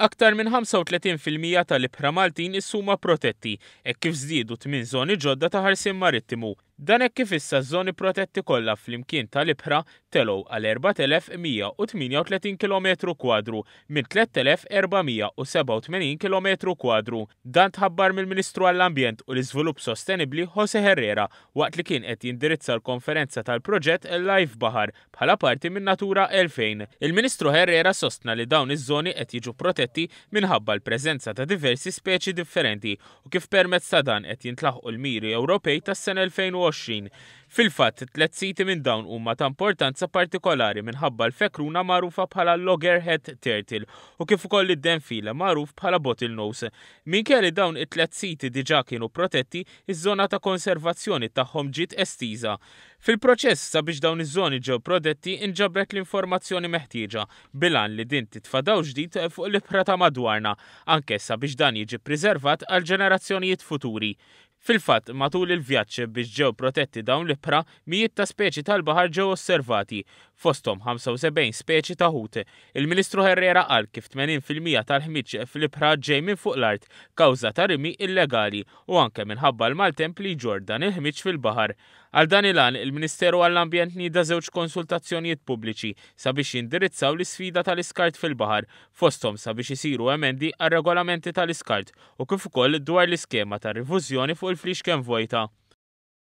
Aktar minn 35% tal-ibħra Maltin is-suma protetti, hekk kif żdiedu tmien żoni ġodda ta' ħarsien marittimu. Dan hekk kif issa ż-żoni protetti kollha flimkien tal-ibħra telgħu għal 4,138 kilometru kwadru minn 3,487 kilometru kwadru. Dan tħabbar mill-Ministru għall-Ambjent u l-Iżvilupp Sostenibbli José Herrera waqt li kien qed jindirizza l-konferenza tal-proġett Life Baħar bħala parti minn Natura 2000. Il-Ministru Herrera sostna li dawn iż-żoni qed jiġu protetti minħabba l-preżenza ta' diversi speċi differenti u kif permezz ta' dan qed jintlaħqu l-miri Ewropej tas-sena 2020. Fil-fatt, tliet siti minn dawn huma ta' importanza partikolari minħabba l-fekruna magħrufa bħala loggerhead turtle u kif ukoll id-denfil magħruf bħala bottlenose. Minkejja li dawn it-tliet siti diġà kienu protetti, iż-żona ta' konservazzjoni tagħhom ġiet estiża. Fil-proċess sabiex dawn iż-żoni ġew prodetti inġabret l-informazzjoni meħtieġa bil-għan li din titfa' dawl ġdid fuq l-ibħra ta' madwarna anke sabiex dan jiġi ppriservat għall-ġenerazzjonijiet futuri. Fil-fatt, matul il-vjaġġ biex ġew protetti dawn l-ibħra, mijiet ta' speċi tal-baħar ġew osservati, fosthom 75 speċi ta' ħut. Il-Ministru Herrera qal kif 80 fil-mija tal-ħmieġ fl-ibħra ġej minn fuq l-art kawża ta' rimi illegali u anke minħabba l-maltemp li jġorr dan il-ħmieġ fil-baħar. Għal dan il-għan, il-Ministeru għall-Ambjent nieda żewġ konsultazzjonijiet pubbliċi sabiex jindirizzaw l-isfida tal-iskart fil-baħar, fosthom sabiex isiru emendi għar-regolamenti tal-iskart u kif ukoll dwar l-iskema ta' rifużjoni fuq il-fliexken vojta.